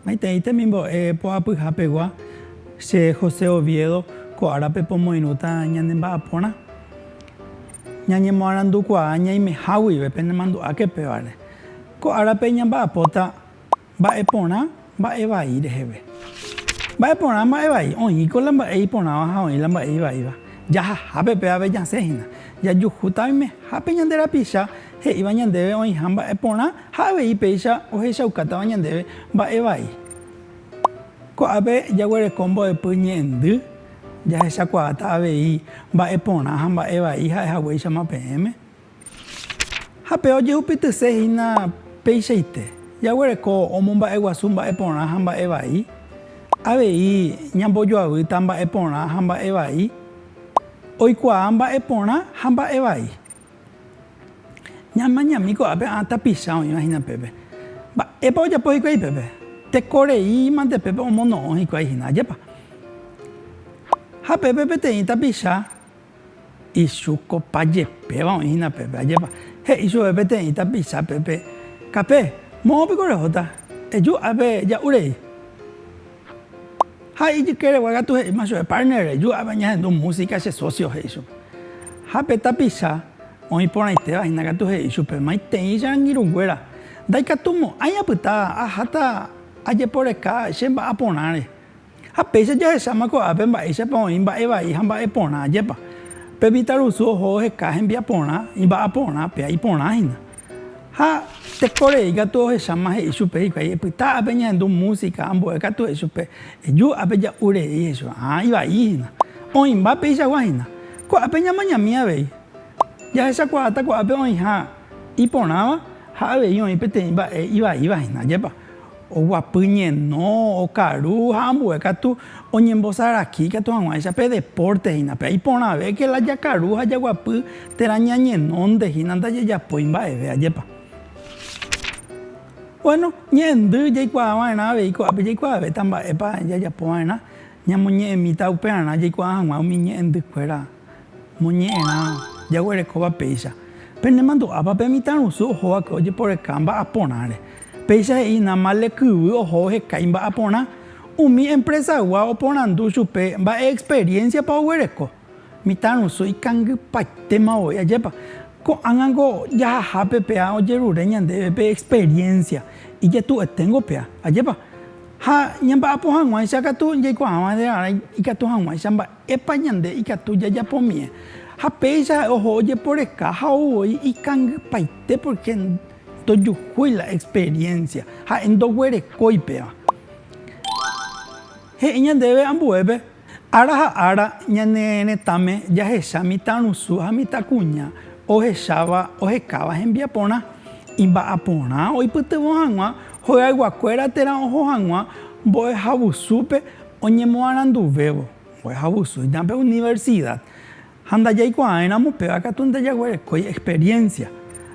Maitei temimbo'e poapyha pegua, che José Oviedo, ko árape pomoirũta ñane mba'aporã. Ñañemoarandukuaa ñaimeha guive penemandu'áke pévare. Ko árape ñamba'apóta mba'e porã mba'e vai reheve. Mba'e porã mba'e vai, oĩko la mba'e iporãva ha oĩ la mba'e ivaíva. Jahahápe pe ave jasẽ hína, jajuhúta oimehápe ñande rapicha he'íva ñandéve oĩha mba'e porã ha avei péicha ohechaukátava ñandéve mba'e vai. Ko'ápe jaguereko mbo'epy ñe'ẽndy, jahechakuaáta avei mba'e porã ha mba'e vai ha'e haguéichama peẽme. Ha pe ojehupytyse hína peichaite jaguereko omomba'eguasu mba'e porã ha mba'e vai, avei ñambojoavýta mba'e porã ha mba'e vai, oikuaa mba'e porã ha mba'e vai. Ñamañami ko'ápe ã tapicha oĩva hína pépe. Mba'épa ojapo hikuái pépe? Tekorei mante pépe omono'õ hikuái hína, ajépa? Ha pépe peteĩ tapicha. Ichukopa jepéva oĩhína pépe, ajépa. He'i chupe peteĩ tapicha pépe, Kape, moõ piko rehóta, eju ápe ja'u rei. Ha ijykeregua katu he'íma chupe, Partner, reju ápe añahendu músika che sósio, he'i chupe. Ha pe tapicha oĩ porãitéva hína katu he'i chupe, Maitei che angirũnguéra, ndaikatumo'ãi apyta aháta ajeporeka che mba'aporãre. Ha péicha jahecháma ko'ápe mba'éichapa oĩ mba'e vai ha mba'e porã, jepa, pe Vitarusu oho oheka hembiaporã imba'aporã, péa iporã hína. Ha teko rei katu ohecháma he'i chupe hikuái, epyta ápe ñahendu músika, ambue katu he'i chupe, eju ápe ja'u rei, he'i chupe, ha ivai hína. Oĩmba peichagua hína. Ko'ápe ñamañami avei. Jahechakuaáta ko'ápe oĩha iporãva ha avei oĩ peteĩ mba'e ivaíva hína, jepa. Oguapy ñeno, okaru ha ambue katu oñembosaraki katu hag̃uáicha pe depórte hína. Péa iporãvéke la jakaru ha jaguapy térã ñañenónte hína ndajejapói mba'eve, ajépa? Buéno, ñe'ẽndy jaikuaa va'erã avei ko'ápe jaikuaavéta mba'épa jajapo va'erã, ñamoñe'ẽmíta upearã jaikuaa hag̃ua umi ñe'ẽndykuéra. Moñe'ẽrã jaguerekóva péicha, penemandu'ápa pe mitãrusu ohóvape ojeporeka mba'aporãre. Péicha he'i Namale kyvy ohóvo hekái mba'aporã, umi empresagua oporandu chupe mba'e experiencia-pa oguereko. Mitãrusu ikangypaitéma voi, ajépa! Ko'ág̃a ko jahahápe péa ojerure ñandéve pe experiencia, ijetu'eténgo péa, ajépa! Ha ñamba'apo hag̃uáicha katu jaikuaáva nde rarã ikatu hag̃uáicha mba'e. Epa ñande ikatu jajapomie ha péicha ha'e oho ojeporeka ha ou voi ikangypaite porque ndojuhúi la experiencia, ha'e ndoguerekói péva. He'i ñandéve ambuépe ára ha ára ñane retãme jahecha mitãrusu ha mitãkuña ohecháva ohekáva hembiaporã, imba'aporã oipytyvõ hag̃ua, hoyayguakuéra térã oho hag̃ua mbo'ehavusúpe, Oñemoaranduvévo, mbo'ehaguasúita pe universida ha ndajaikuaáiramo péva katu ndajaguerekói experiencia.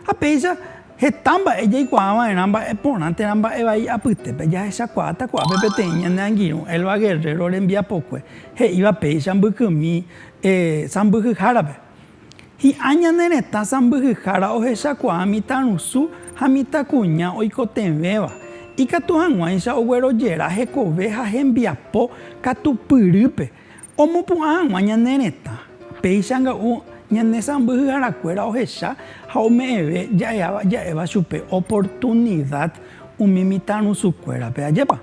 Ha péicha heta mba'e jaikuaava'erã mba'e porã térã mba'e vai apytépe jahechakuaáta ko'ápe peteĩ ñane angirũ Elba Guerrero rembiapokue he'íva péicha mbykymi sãmbyhyhárape. Hi'ã ñane retã sãmbyhyhára ohechakuaa mitãrusu ha mitãkuña oikotevẽva, ikatu hag̃uáicha oguerojera hekove ha hembiapo katupyrýpe omopu'ã hag̃ua ñane retã. Péicha nga'u ñane sãmbyhyharakuéra ohecha ha ome'ẽve ja'eháva ja'éva chupe oportunida umi mitãrusukuérape, ajépa?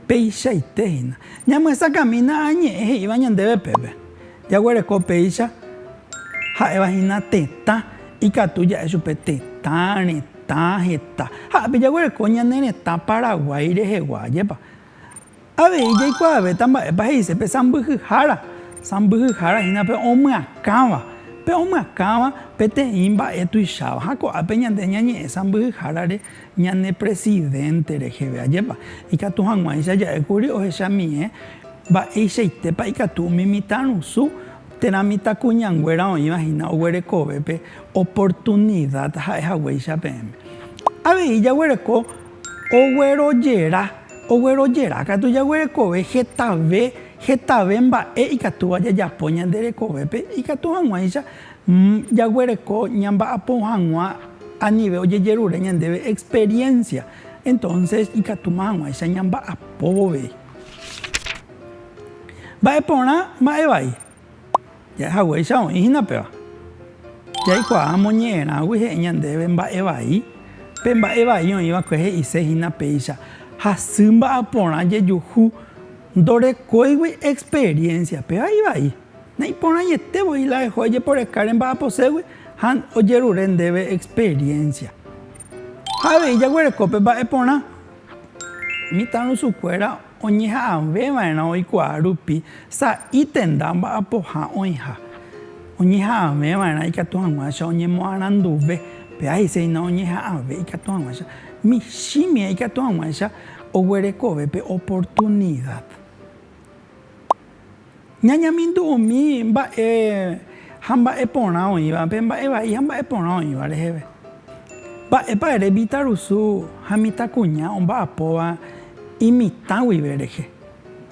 Peichaite hína, ñamyesakãmína añe'ẽ he'íva ñandéve pépe. Jaguereko péicha ha'éva hína tetã, ikatu ja'e chupe tetã, retã, heta. Ha'épe jaguereko ñane retã Paraguái rehegua, ajépa. Avei jaikuaavéta mba'épa he'ise pe sãmbyhyhára. Sãmbyhyhára hína pe omyakãva. Pe omyakãva peteĩ mba'e tuicháva. Ha ko'ápe ñande ñañe'ẽ sãmbyhyhárare. Ñane presidente reheve ajépa ikatu hag̃uáicha ja'e kuri ohechamiẽ mba'eichaitépa ikatu umi mitãrusu térã mitãkuñanguéra oĩva hína oguerekovépe oportunida ha'e haguéicha peẽme. Avei jaguereko oguerojera, oguerojera katu jaguerekove hetave, hetave mba'e ikatúva jajapo ñande rekovépe ikatu hag̃uáicha Jaguereko ñamba'apo hag̃ua anive ojejerure ñandéve experiencia, entonces ikatúma hag̃uáicha ñamba'apo vove. Mba'e porã, mba'e vai? Ja'ehaguéicha oĩ hína péva. Jaikuaa amoñe'ẽrãgui he'i ñandéve mba'e vai, pe mba'e vai oĩ va'ekue he'ise hína péicha, hasy mba'aporã jejuhu ndorekóigui experiencia, péva ivai. Naiporãiete voi la eho ejeporeka rembajaposégui ha ojerure ndéve experiencia. Ha avei jaguereko pe mba'e porã. Mitãrusukuéra oñeha'ãve va'erã oikuaa rupi sa'i tenda mba'apoha oĩha. Oñeha'ãve va'erã ikatu hag̃uáicha oñemoaranduve. Péa he'ise hína oñeha'ãve ikatu hag̃uáicha. Michĩmia ikatu hag̃uáicha oguerekove pe oportunidad. ñañamindu umi mba'e ha mba'e porã oĩvape, mba'e vai ha mba'e porã oĩva reheve. Mba'épa ere mitãrusu ha mitãkuña omba'apóva imitã guive rehe?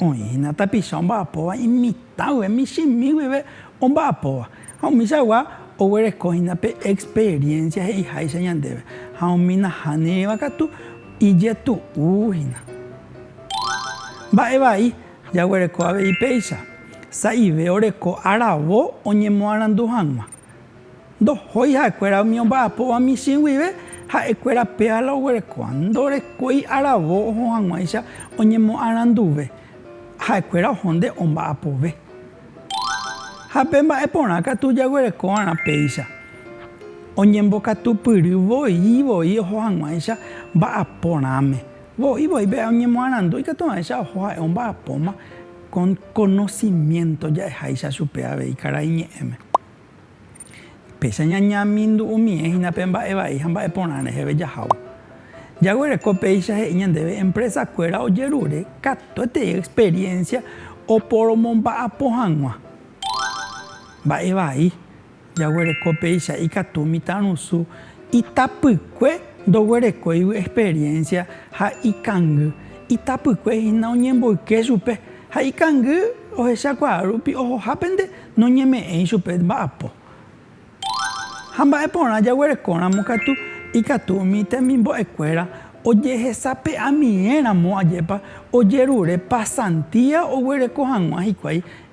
Oĩhína tapicha omba'apóva imitã guive, michĩmi guive omba'apóva. Ha umichagua oguerekóhina pe experiencia he'iháicha ñandéve, ha umi nahániriva katu ijetu'úhina. Mba'e vai. Jaguereko avei péicha, sa'ive oreko aravo oñemoarandu hag̃ua. Ndohói ha'ekuéra umi omba'apóva michĩ guive, ha'ekuéra péva la oguerekóva. Ndorekói aravo oho hag̃uáicha oñemoaranduve, ha'ekuéra oho nde omba'apove. Ha pe mba'e porã katu jaguereko va'erã péicha, oñembokatupyry voi voi oho hag̃uáicha mba'aporãme. Voi voi pe oñemoarandu ikatu avéicha oho ha'e omba'apóma kon konosiménto ja'eháicha chupe avei karai ñe'ẽme. Péicha ñañamindu'umie hína pe mba'e vai ha mba'e porã reheve jahávo. Jaguereko péicha he'i ñandéve empresakuéra ojerure katuetei experiencia oporomomba'apo hag̃ua mba'e vai. Jaguereko péicha ikatu mitãrusu itapykue ndoguerekóigui experiencia ha ikangy, itapykue hína oñemboyke chupe ha ikangy ohechakuaa rupi ohoha pende noñeme'ẽi chupe mba'apo. Ha mba'e porã jaguerekóramo katu ikatu umi temimbo'ekuéra ojehesape'amieramo ajépa ojerure pasantía oguereko hag̃ua hikuái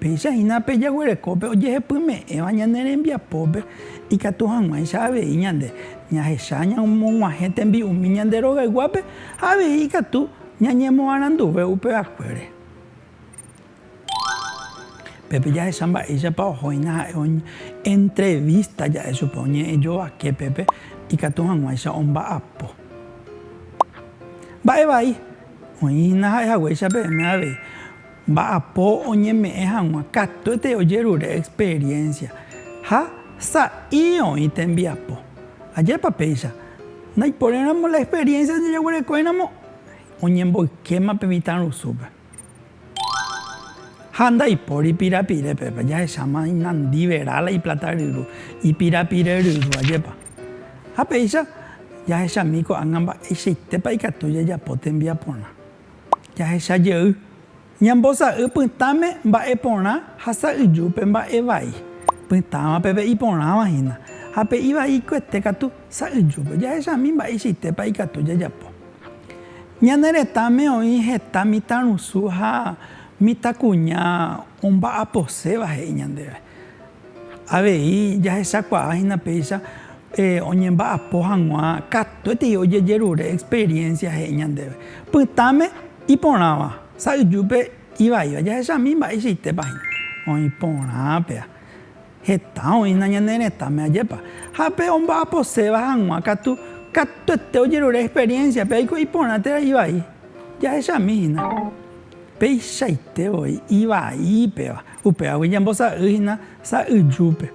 Péicha hína pe jaguerekópe ojehepyme'ẽva ñane rembiapópe, ikatu hag̃uáicha avei ñande ñahecha ñamog̃uahẽ tembi'umi ñande rogayguápe ha avei ikatu ñañemoaranduve upevakuére. Pépe jahecha mba'éichapa ohóina ha'e oñentrevista ja'e chupe oñe'ẽ jovake pépe ikatu hag̃uáicha omba'apo. Mba'e vai, oĩ hína ha'e haguéicha peẽme avei. Mba'apo oñeme'ẽ hag̃ua katuete ojerure experiencia ha sa'i oĩ tembiapo. Ajépa péicha, ndaiporéramo la experiencia jajaguerekóiramo oñemboykéma pe mitãrusúpe. Ha ndaipóri pirapire, pépa jahecháma inandiverá la iplata ryru, ipirapire ryru, ajépa. Ha péicha jahechami ko'ág̃a mba'eichaitépa ikatu jajapo tembiaporã. Jahecha jey, ñambosa'y pytãme mba'e porã ha sa'yju pe mba'e vai. Pytãva pe ve'i porãva hína, ha pe ivaikuete katu sa'yjúpe. Jahechami mba'eichaitépa ikatu jajapo. Ñane retãme oĩ heta mitãrusu ha mitãkuña omba'aposéva he'i ñandéve. Avei jahechakuaa hína péicha oñemba'apo hag̃ua katuetei ojejerure experiencia he'i ñandéve. Pytãme iporãva, sa'yjúpe ivaíva. Jahechami mba'eichaitépa hína oĩ porã péa. Heta oĩna ñane retãme, ajépa. Ha pe omba'aposéva hag̃ua katu, katuete ojerure experiencia péa, oiko iporã térã ivai. Jahechami hína. Peichaite voi ivai péva. Upévagui ñambosa'y hína sa'yjúpe.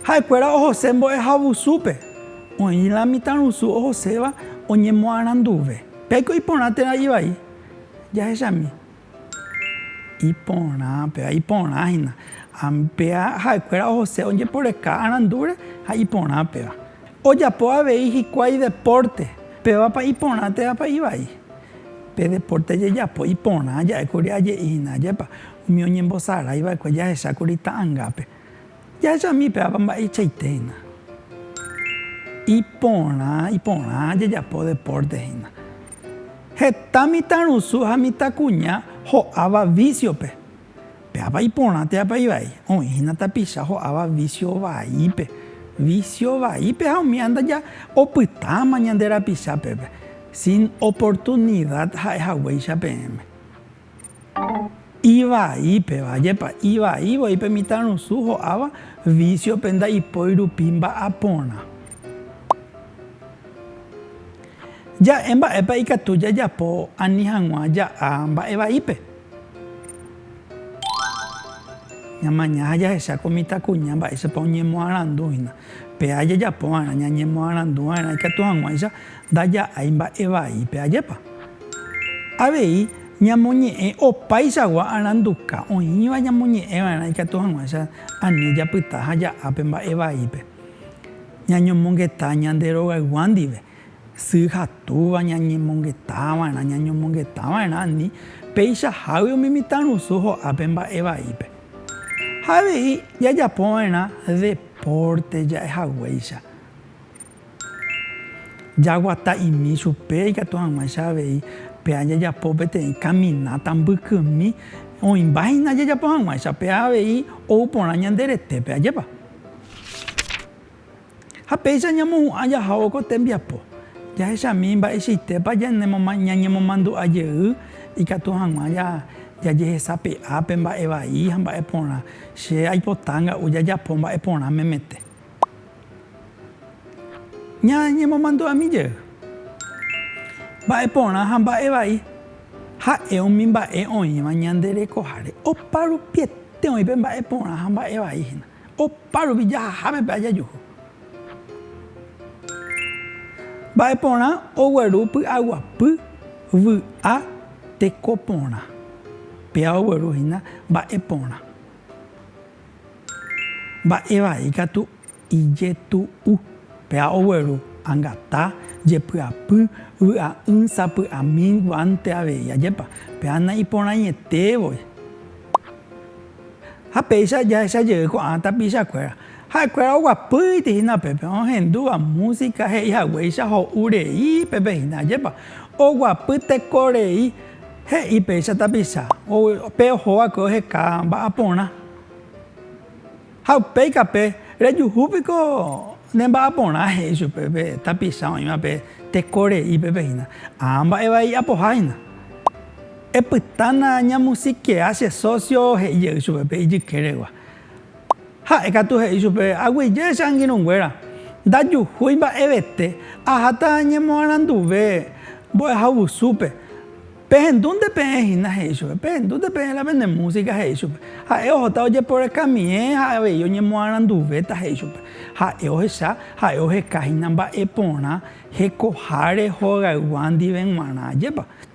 Ha'ekuéra ohose mbo'ehavusúpe. Oĩ la mitãrusu ohoséva oñemoaranduve. Péiko iporã térã ivai. Jahechami. Iporã péva, iporã hína. Péa ha'ekuéra ohose ojeporeka arandúre ha iporã péva. Ojapo avei hikuái depórte. Pévapa iporã térãpa ivai. Pe depórte jejapo iporã ja'ékuri aje'íhina ajépa umi oñembosarái va'ekue jahechákuri ta'angápe. Jahechami pévapa mba'eichaitéhina. Iporã, iporã jejapo depórte hína. Heta mitãrusu ha mitãkuña ho'áva vísiope. Péapa iporã teapa ivai? Oĩhína tapicha ho'áva vísio vaípe. Vísio vaípe ha umi andaja opytáma ñande rapicha pépe. Sin oportunidad ha'e haguéicha peẽme. Ivaípeva, jepa, ivai voi pe mitãrusu ho'áva vísiope ndaipói rupi mba'aporã. Ja'e mba'épa ikatu jajapo ani hag̃ua ja'a mba'e vaípe. Ñamaña ha jahecha ko mitãkuña mba'éichapa oñemoarandu hína. Péa jajapo va'erã ñañemoarandu va'erã ikatu hag̃uáicha ndaja'ái mba'e vai. Pe ajépa? Avei ñamoñe'ẽ opaichagua aranduka, oĩva ñamoñe'ẽ va'erã ikatu hag̃uáicha ani japyta ha ja'a pe mba'e vaípe. Ñañomongeta ñande rogaygua ndive. Sy ha túva ñañemongetava'erã, ñañomongetava'erã ani peichahágui umi mitãrusu ho'ápe mba'e vaípe. Ha avei jajapova'erã depórte ja'ehaguéicha, jaguataimi chupe ikatu hag̃uáicha avei péa jajapo peteĩ kamináta mbykymi, oĩmbáhina jajapo hag̃uáicha péa avei ou porã ñande retépe, ajépa? Ha péicha ñamohu'ã jahávo ko tembiapo, jahechami mba'eichaitépa ñañemomandu'a jey ikatu hag̃ua jajehesape'a pe mba'e vai ha mba'e porã. Che aipota nga'u jajapo mba'e porã memete ñañemomandu'ami jey. Mba'e porã ha mba'e vai ha'e umi mba'e oĩva ñande rekoháre. Oparupiete oĩ pe mba'e porã ha mba'e vai hína. Opa rupi jahaháme pe ajajuhu. Mba'e porã ogueru py'aguapy, vy'a, teko porã. Péva ogueru hína mba'e porã. Mba'e vai katu ijetu'u. Péva ogueru angata, jepy'apy, vy'a'ỹ, sapy'ami, guánte avei. Ajépa. Péva naiporãietévoi. Ha péicha jahecha jey ko'ã tapicha kuéra, ha'e kuéra oguapýiti hína pépe ohendúva música he'i haguéicha ho'u rei pépe hína, ajépa oguapy teko rei, he'i péicha tapicha, pe oho va'ekue oheka va'a porã. Ha upéi kape, rejuhu piko ne va'a porã he'i chupe pe tapicha oĩva pe teko rei pépe hína, ámba'e vai hi'apoha hína. Epytána ñamusikea che sósio he'i jey chupe pe ijykeregua. Ha'e katu he'i chupe, Aguyje che angirũnguéra, ndajuhúi mba'evete, aháta ñemoaranduve mbo'ehaovusúpe. Pehendúnte peẽ hína, he'i chupe. Pehendúnte peẽ la pene músika, he'i chupe. Ha'e ohóta ojeporekamiẽ ha avei oñemoaranduvéta, he'i chupe. Ha'e ohecha, ha'e oheka hína mba'e porã hekoháre hogayguá ndive g̃uarã. Ajépa!